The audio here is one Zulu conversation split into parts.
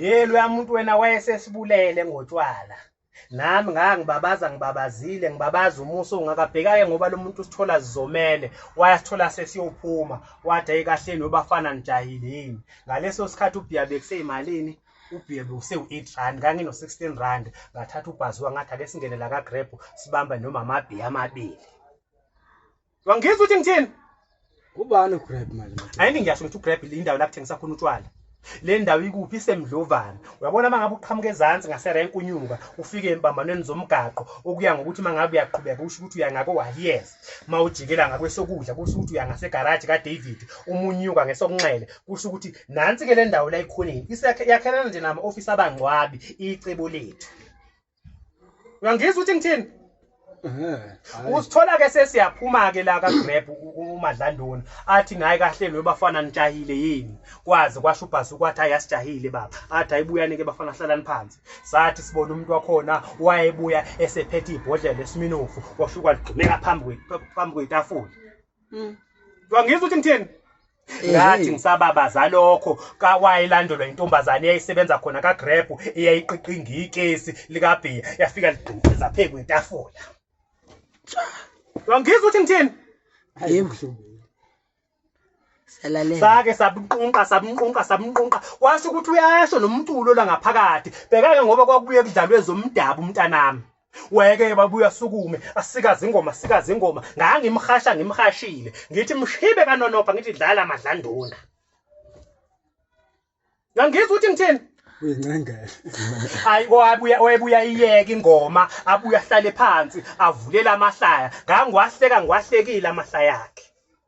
ye loya muntu wena wayesesibulele ngotshwala nami ngaka ngibabaza ngibabazile ngibabaza umuso ungakabhekake ngoba lo muntu usithola zizomele wayasithola sesiyophuma wathi ayi kahleni webafana nijahile yini ngaleso sikhathi ubhiya bekuseyimalini ubhiya bekusewu-eight rand kangino-sixteen rand ngathatha ubhaziwa ngathi ake singene la kagrab sibambe nomama abhiya amabili Wangizwa ukuthi ngithini? Ubani uGrab manje? Ayini ngiyasho ukuthi uGrab le indawo la kuthengisa khona utshwala. Le ndawo ikuphi isemdlovana. Uyabona mangabe uqhamuka ezantsi ngaserenk unyuka ufike empambanweni zomgaqo okuya ngokuthi mangabe uyaqhubeka usho ukuthi uya ngako wahiyes. Mawujikela ngakwesokudla kusho ukuthi uya ngase garage ka David umunyuka ngesokunxele kusho ukuthi nansi ke le ndawo la ikhoneni. Isakhe yakhelana nje nama office abangcwabi icebo lethu. uyangizwa ukuthi ngithini usithola-ke sesiyaphuma-ke la kagrab umadlandoni athi ngaye kahle loyo bafana nitshahile yini kwazi kwasho ubhasi ukwathi hayi asijahile baba athi ayibuyani-ke bafana hlalani phansi sathi sibona umuntu wakhona wayebuya esephethe ibhodlela esiminofu washo kwaligxumeka phambi kwetafula mm. wangizwa ukuthi ngithini ngathi ngisababaza lokho kawayilandelwa intombazane eyayisebenza khona kaGrab eyayiqiqinga ikesi likabhiya yafika ligqinqiza phezu kwetafula wangizwa ukuthi ngithini yebo Salalela. Sake sabunqunqa sabunqunqa sabunqunqa washo ukuthi uyasho nomculo la ngaphakathi. Bheka ke ngoba kwakubuye kudlalwe zomdabu umntanami. weke babuya sukume asikaze ingoma asikaze ingoma ngangimhasha ngimhashile ngithi mshibe kanonopha ngithi dlala madlanduna ngangizwa ukuthi ngithini uyincengele hayi wabuya wayebuya iyeke ingoma abuya ahlale phansi avulela amahlaya ngangiwahleka ngiwahlekile amahlaya akhe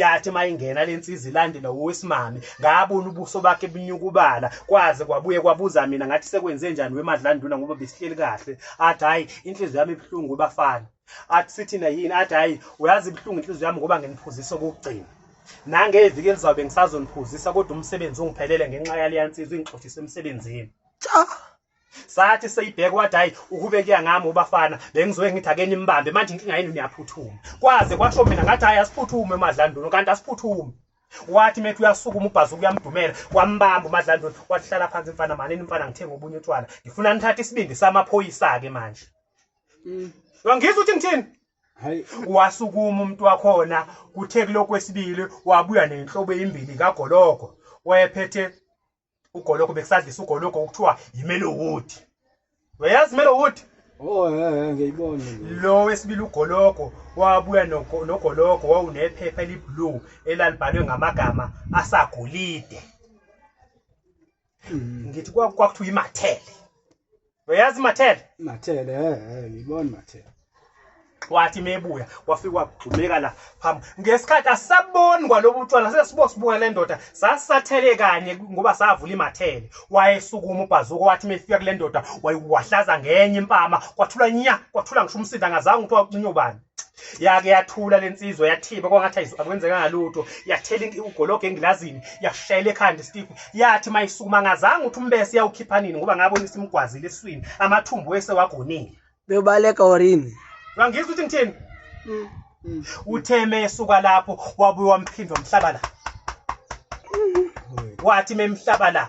yathi mayingena lensizi ilandela owesimame ngabona ubuso bakhe bunyukubala kwaze kwabuye kwabuza mina ngathi sekwenze njani wemadlanduna ngoba besihleli kahle athi hayi inhliziyo yami ibuhlungu bafana athi sithina yini athi hayi uyazi ibuhlungu inhliziyo yami ngoba nginiphuzisa okugcina nangeviki elizawube ngisazoniphuzisa kodwa umsebenzi ungiphelele ngenxa yaleya nsizwa ingixoshisa emsebenzini cha sathi seyibheka wathi hayi ukube kuya ngami ubafana bengizoke ngithi ake nimbambe manje inkinga yenu niyaphuthuma kwaze kwasho mina ngathi hayi asiphuthume umadlandulu kanti asiphuthume wathi methi uyasukuma ubhazi ukuyamdumela wambamba umadlandulu wathi hlala phansi mfana malini mfana ngithenga obunye utshwala ngifuna nithathe isibindi samaphoyisa-ke manje mm. wangizwa ukuthi ngithini wasukuma umuntu wakhona kuthe kulokwesibili wabuya nenhlobo eyimbili kagologo wayephethe ugologo bekusadlisa ugologo okuthiwa yimelo wood uyayazi imelo wood Oh eh, eh ngiyibona lo wesibili ugologo wabuya nogologo wawunephepha eliblue elalibhalwe ngamagama asagolide hmm. ngithi kwakuthiwa imathele uyazi mathele mathele eh ngibona mathele wathi mebuya wafika wagxumeka la phambi ngesikhathi asaboni kwalobu tshwala sesibo sibuka le ndoda sasathele kanye ngoba savula imathele wayesukuma ubhazuko wathi mefika kule ndoda wayiwahlaza ngenye impama kwathula nya kwathula ngisho umsindo angazange ukuthi wacinyo bani yake yathula lensizwa yathiba kwangathi ayizwa akwenzekanga lutho yathela inki ugologo engilazini yashayela ekhanda isitifu yathi mayisukuma ngazange uthi umbese yawukhipha nini ngoba ngabona isimgwazile eswini amathumbu wese wagonile beyobaleka orini ngangizwa ukuthi ngithini mm, mm. utheme esuka lapho wabuye wamphindwa mhlaba la mm. wathi memhlaba la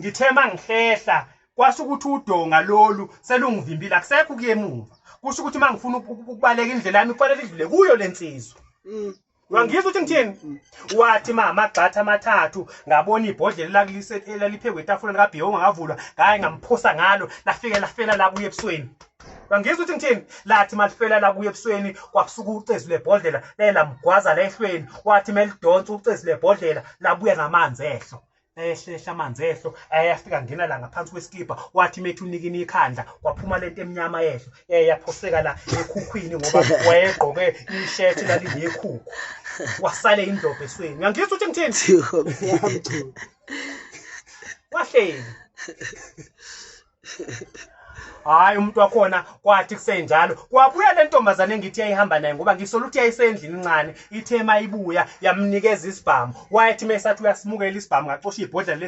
ngithe mangihlehla kwasho ukuthi udonga lolu selungivimbile akusekho kuyemuva kusho ukuthi mangifuna ukubaleka indlela yami kufanele idlule kuyo lensizwa mm. wangizwa ukuthi ngithini mm. wathi mama gxatha amathathu ngabona ibhodlela elaliphekwe etafuleni kabhiyo ongakavulwa ngaye ngamphosa ngalo lafike lafela la kuye ebusweni wangizwa ukuthi ngithini lathi malifela la kuye ebusweni kwakusuka ucezu lebhodlela laye lamgwaza la ehlweni wathi melidonsa ucezu lebhodlela labuya namanzi ehlo ehlehla amanzi ehlo ayafika ngena la ngaphansi kwesikibha wathi methi unikini ikhandla kwaphuma lento emnyama ehlo yayaphoseka la ekhukhwini ngoba wayegqoke ishethi lalinekhukhu wasale indlobo esweni uyangizwa ukuthi ngithini wahleli hayi umuntu wakhona kwathi kusenjalo kwabuya le ntombazane engithi yayihamba naye ngoba ngisola ukuthi yayisendlini incane ithe uma ibuya yamnikeza isibhamu wayethi uma esathi uyasimukela isibhamu ngacosha ibhodlela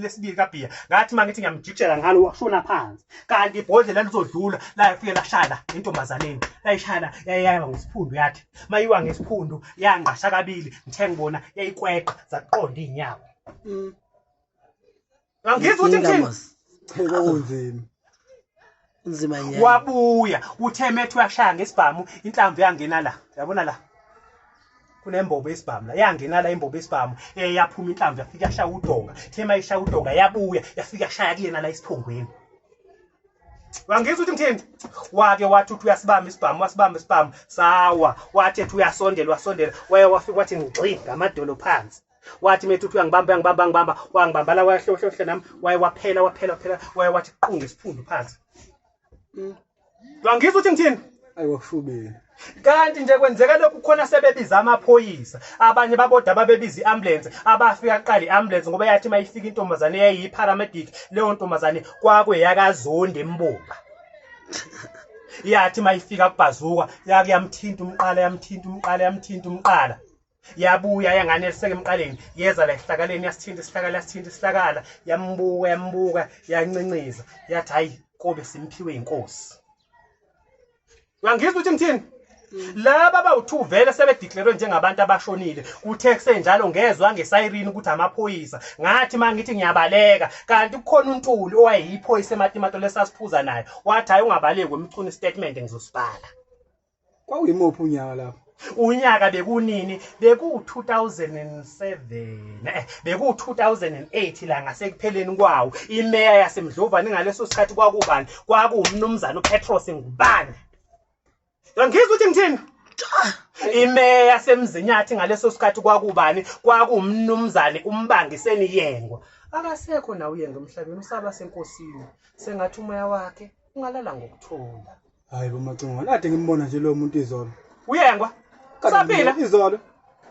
lesibili kabhiya ngathi uma ngithi ngiyamjikshela ngalo washona phansi kanti ibhodlela lizodlula layafike lashayela intombazaneni layishayela yayayaba ngesiphundu yathi uma iwa ngesiphundu yangqasha kabili ngithe ngibona yayikweqa zaqonda iy'nyawo mm. Angizwa ukuthi Inkinga, ngithini. mos. Hey, kwakunzima. Kunzima nyana. Wabuya uthe methu yashaya ngesibhamu inhlamvu yangena la. Yabona la. Kunembobo esibhamu la. Yangena la imbobo esibhamu. Eh yaphuma inhlamvu yafika yashaya udonga. Uthe mayishaya udonga yabuya yafika yashaya kuyena la isiphongweni. Wangizwa ukuthi ngithini? Wake wathi uthi uyasibamba isibhamu, wasibamba isibhamu, sawa. Wathi ethi uyasondela, wasondela. Waya wafika wathi ngixi ngamadolo phansi. wathi methu uthi uyangibamba uyangibamba ngibamba wangibamba la wayahlohlohle nami waye waphela waphela waphela waye wathi qunge isiphundu phansi mm. wangizwa uthi ngithini ayiwashubile kanti nje kwenzeka lokhu khona sebebiza amaphoyisa abanye baboda babebiza i-ambulance abafika kuqala i-ambulance ngoba yathi uma ifika intombazane yayiyi-paramedic leyo ntombazane kwakweyakazondi embumba yathi uma ifika kubhazuka yake yamthinta umqala yamthinta umqala yamthinta umqala yabuya yangane lisekumqaleni yeza la esihlakaleni yasithinta isihlakala yasithinta isihlakala yambuka yambuka yancinqiza yathi hayi kobe simphiwe inkosi uyangizwa ukuthi ngithini laba bawu-two vele sebedeclarwe njengabantu abashonile kuthe kusenjalo ngezwa ngesayirine ukuthi amaphoyisa ngathi uma ngithi ngiyabaleka kanti kukhona untuli owayeyiphoyisa ematimato lesasiphuza naye wathi hhayi ungabaleki wemchuna isitatimende ngizosibhala kwakuyimuphi unyaka lapho unyaka bekunini beku-2007 eh, beku-2008 la ngasekupheleni kwawo imeya yasemdlovane ngaleso sikhathi kwakubani kwakuwumnumzane upetros ngubane yangizwa ukuthi ngithini imeya yasemzinyathi ngaleso sikhathi kwakubani kwakuwumnumzane umbangiseni yengwa akasekho nawe uyenge emhlabeni usaba senkosini sengathi umoya wakhe ungalala ngokuthula hayi bomacingo nade ngimbona nje lo muntu izolo uyengwa usaphila izolo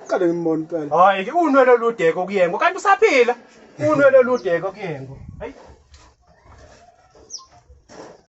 qale ngimbona impela hayi ke unwele oludeko kuyengwa kanti usaphila unwele oludeko kuyengwa hayi